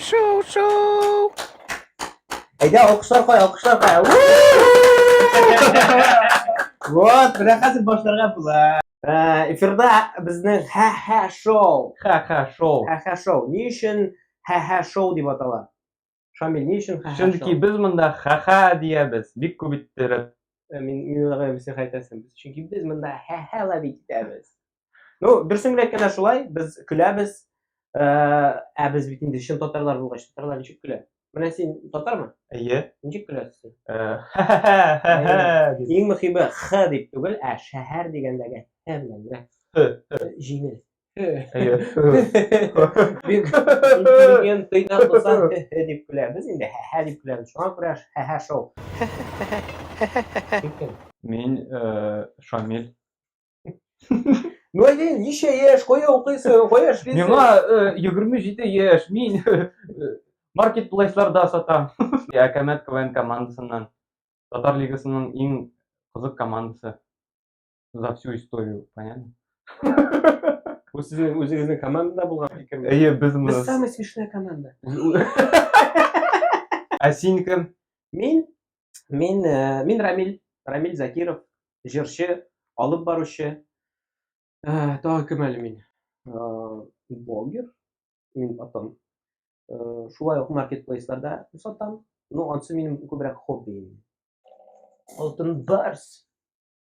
Шоу, шоу! Әйдә, алкышлар кай, алкышлар кай. Вот, менә хәзер башларга була. Э, эфирда безнең ха-ха шоу. Ха-ха шоу. Ха-ха шоу. Ни өчен ха-ха шоу дип атала? Шамил, ни өчен ха-ха? Чөнки без монда ха-ха диябез, бик күп иттереп. Э, мин мин уйлаган идем, син хәйтәсен. Без чөнки без монда ха-ха ловить итәбез. Ну, дөресен генә әйткәндә шулай, без көләбез. Э, ә без бит инде чын татарлар булгач, татарлар ничек көлә? Менә син татармы? Әйе. Ничек көләсең син? Э, ха-ха-ха-ха дип. Иң мөхиме х дип түгел, ә шәһәр дигәндәге х белән генә. Х, х. Җиңел. әйе бик интеллигент тыйна булса дип көләбез инде һә дип көләбез шуңа күрә һә шоу мин шамил Ну әйе, ничә яшь, кая укыйсың, кая эшлисең? Миңа 27 яшь, мин маркетплейсларда сатам. Я Камет КВН командасыннан. Татар лигасының иң кызык командасы. За всю историю, понятно? Бу сезнең үзегезнең командада булган фикерме? Әйе, без моны. Без самая смешная команда. Ә син кем? Мин, мин, э, мин Рамиль, Рамиль Закиров, җырчы, алып баручы. Э, Тагы кем әле мин? Э, Блогер, мин атам. Э, Шулай ук маркетплейсларда сатам. Ну, ансы минем күбрәк хобби. Алтын барс.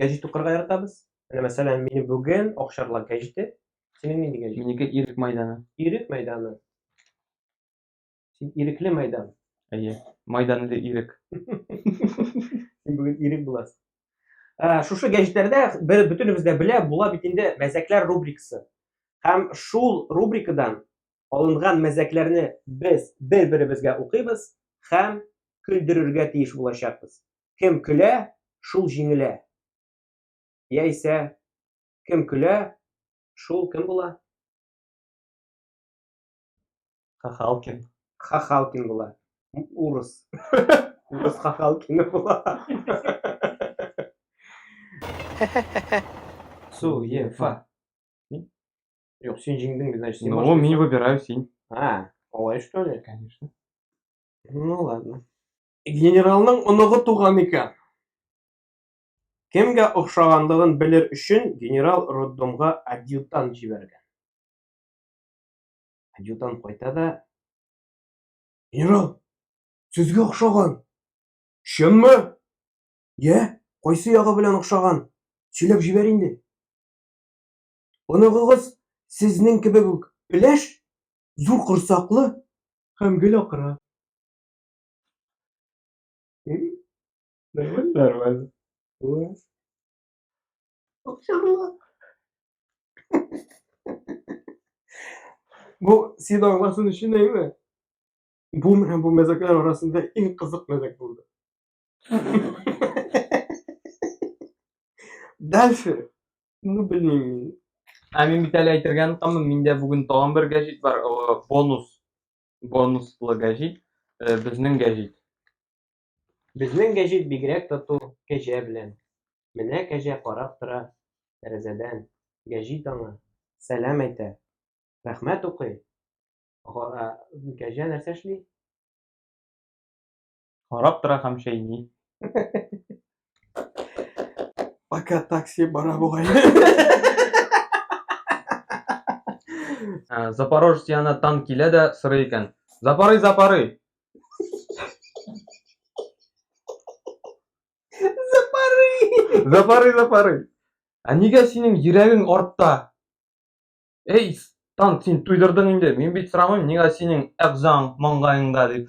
гәҗит укырга яратабыз. Менә мәсәлән, мине бүген Акчарлак гәҗите. Синең нинди гәҗит? Минеке Ирек мәйданы. Ирек мәйданы. Син ирекле мәйдан. Әйе. Майдан иде Ирек. Син бүген Ирек буласың. Ә, шушы гәҗитләрдә бер бөтенебез дә белә, була бит инде мәзәкләр рубрикасы. Һәм шул рубрикадан алынган мәзәкләрне без бер-беребезгә укыйбыз һәм көлдерергә тиеш булачакбыз. Кем көлә, шул җиңелә. Яисә кем көлә, шул кем була? Хахалкин. Хахалкин була. Урыс. Урыс Хахалкин була. Суефа. Юк, син җиңдең, значит, син Ну, башлыйсың. мин выбираю син. А, алай что ли? Конечно. Ну ладно. Генералның оныгы туган икән. Кемгә охшаганлыгын белер өчен генерал роддомга адъютант җибәргән. Адъютант кайта да Генерал, сезгә охшаган. Чынмы? Йә, кайсы ягы белән охшаган? Сөйләп җибәр инде. Оныгыгыз сезнең кебек үк өләш, зур корсаклы һәм гел акыра. Нормально. Класс. Акчарлы. Бу син аңласын өчен әйме? Бу менә бу мәзәкләр арасында иң кызык мәзәк булды. Дальше. Ну, блин. Ә мин бит әле әйтергә онытамын, миндә бүген тагын бер гәҗит бар, бонус. Бонуслы гәҗит, э, безнең гәҗит. Безнең гәҗит бигрәк тату кәҗә белән. Менә кәҗә карап тора тәрәзәдән. Гәҗит аңа сәлам әйтә. Рәхмәт укый. Кәҗә нәрсә эшли? Карап тора һәм чәйни. Пока такси бара бугай. Ә, Запорожец янына танк килә дә сорый икән. Запорый, запорый! Запорый! Запорый, запорый! Ә нигә синең йөрәгең артта? Эй, танк, син туйдырдың инде. Мин бит сорамыйм, нигә синең әгъзаң маңгаеңда дип.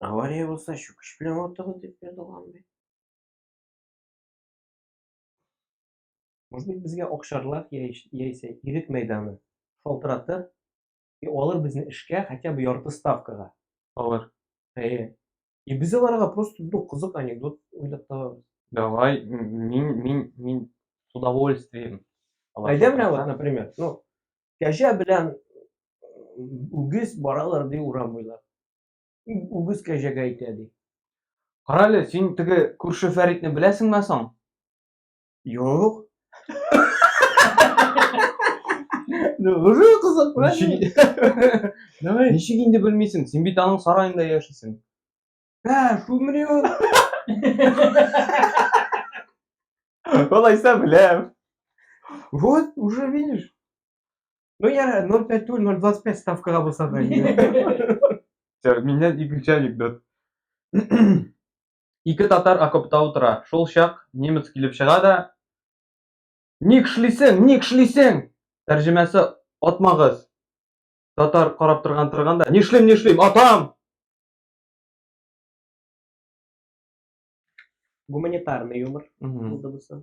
Авария булса, чүкеш белән ватыгыз дип язылган бит. Может быть, безгә Акчарлак яисә Ирек мәйданы шалтыратыр и алыр безне эшкә хотя бы ярты ставкага. Алыр. Әйе. И без аларга просто ну, кызык анекдот уйлап табабыз. Давай, мин, мин, мин с удовольствием. Әйдә менә вот, например, ну, кәҗә белән үгез баралар ди урам буйлап. Үгез кәҗәгә әйтә, ди. Карале, син теге күрше Фәритне беләсеңме соң? Юк. Уже кызык, беләсеңме? Давай. Ничек инде белмисең? Син бит аның сараенда яшисең. Ә, шулмени ул? Алайса беләм. Вот, уже видишь. Ну, я 0,5 түгел, 0,25 ставкага булса да инде. Все, миннән икенче анекдот. Ике татар окопта утыра. Шул чак немец килеп чыга да Ник шлисең, ник шлисең? Тәрҗемәсе атмагыз. Татар карап торган торганда, нишлим, нишлим, атам! Гуманитарный юмор Мгм. булды бусы.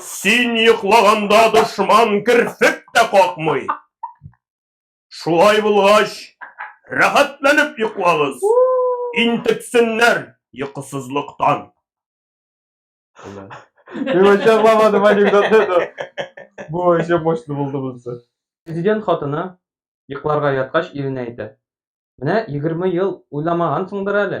Син йоклаганда дошман керфек тә какмый. Шулай булгач, рәхәтләнеп йоклагыз. Интексеннәр йокысызлыктан. Мин вообще аңламадым анекдотны, но бу вообще мощный булды монысы. Президент хатыны йокларга яткач иренә әйтә, Менә егерме ел уйламагансыңдыр әле,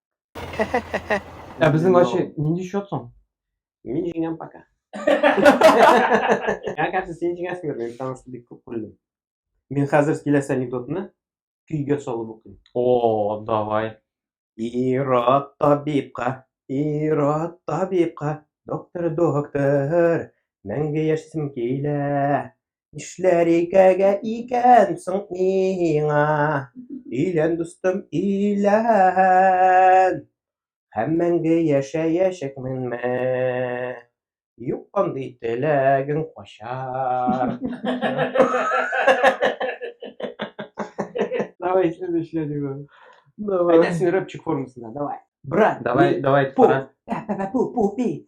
Ә безнең ачы нинди счет соң? Мин җиңәм пока. Миңа кажется, син җиңәсеңдер, мин потому что бик күп күрдем. Мин хәзер киләсе анекдотны көйгә салып укыйм. О, давай. Ират табибка, Ират табибка, доктор, доктор, мәңге яшисем килә. Нишләр икәгә икән соң миңа, илән дустым, илән. Һәм мәңге яшәячәкмен мә. Юк андый теләгең качар. Давай, следующий я диго. Давай. Әйтәсең рэпчик формасында, давай. Брат, Давай, давай, пу, пара. пу, пу, пу, пи.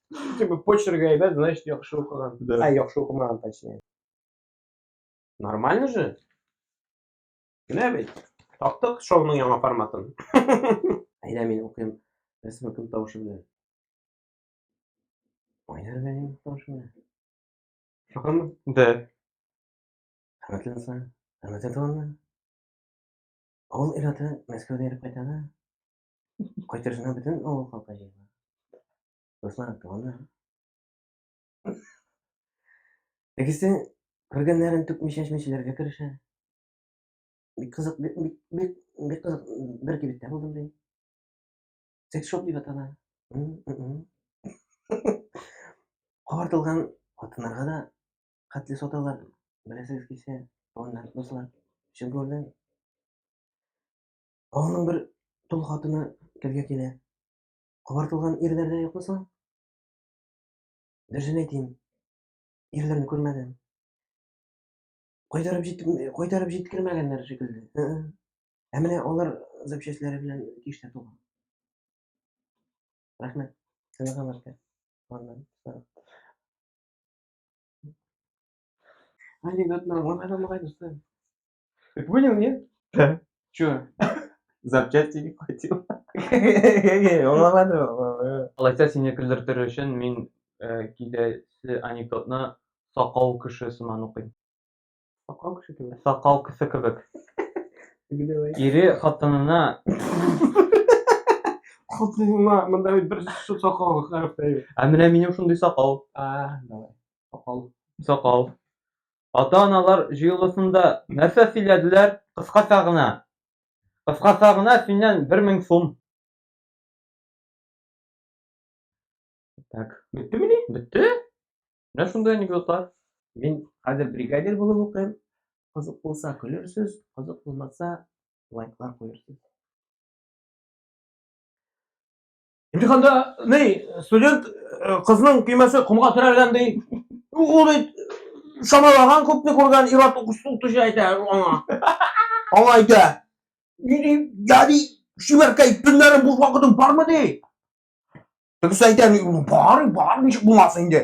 Типа почерк әйбәт, значит яхшы укыган. Да. Ә, яхшы укымаган, точнее. Нормально же? Генә бит. Таптык шоуның яңа форматын. Әйдә мин укыйм. Рәсмә кем тавышы белән? Айнар Галимов тавышы белән. Шакамы? Да. Хөрмәтле дуслар, хөрмәтле туганнар. Авыл ирләтен Мәскәүдә йөреп кайтаны. Кайтырсына бөтен авыл халкы җыела. Дуслар туганда. Тегесе күргәннәрен түкмичә чәчмәчеләргә керешә. Бик кызык, бик, бик, бик, бик кызык бер кибеттә булдым ди. Секс-шоп дип атала. Картылган хатыннарга да хәтле саталар. Беләсегез килсә, туганнар, дуслар, чын күрдем. Аның бер тол хатыны телгә килә. Кабартылган ирләр дә юкмы соң? Дөресен әйтим, ирләрне күрмәдем. Кайтарып җит кайтарып җиткермәгәннәр шикелле. Ә менә алар запчастләре белән киштә туган. Рәхмәт. Сезгә хәбәркә. Аннан. Анекдотны аңламадыңмы, кайдысы? Ты понял, нет? Да. Че? Запчасти не хватило. Алайса сине көлдертер өчен мин э, киләсе анекдотны сакау кеше сыман укыйм. Сакал кеше кебек. Сакау кеше кебек. Давай. Ире хатынына Хатыныма мында бит бер су сакал хәреф тәйб. Ә менә минем шундый сакал. А, давай. Сакал. Сакал. Ата-аналар җыелышында нәрсә сөйләделәр? Кыскача гына. Кыскача гына синнән бер мең сум. Так. Беттемени? Бетте. Менә шундый анекдотлар. Мин хәзер бригадир булып укыйм. Кызык булса көлерсез, кызык булмаса лайклар куерсыз. Имтиханда ни студент э, кызның көймәсе комга терәлгән ди. Ул бит шамалаган күпне күргән ир-ат укытучы әйтә аңа. Аңа әйтә. Ни ди, я ди, чибәркәй, төннәрен буш вакытың бармы ди? Тегесе әйтә, бар, бар, ничек булмасын инде.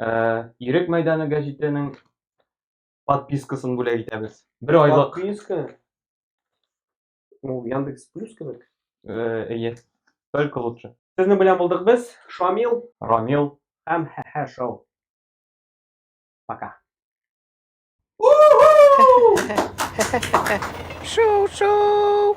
Ә, Ирек мәйданы гәҗитенең подпискасын бүләк итәбез. Бер айлык. Подписка. Ну, Яндекс Плюс кебек. Э, Әйе. Только лучше. Сезне белән булдык без. Шамил Рамил. һәм Хәһә шоу. Пока. Шоу-шоу!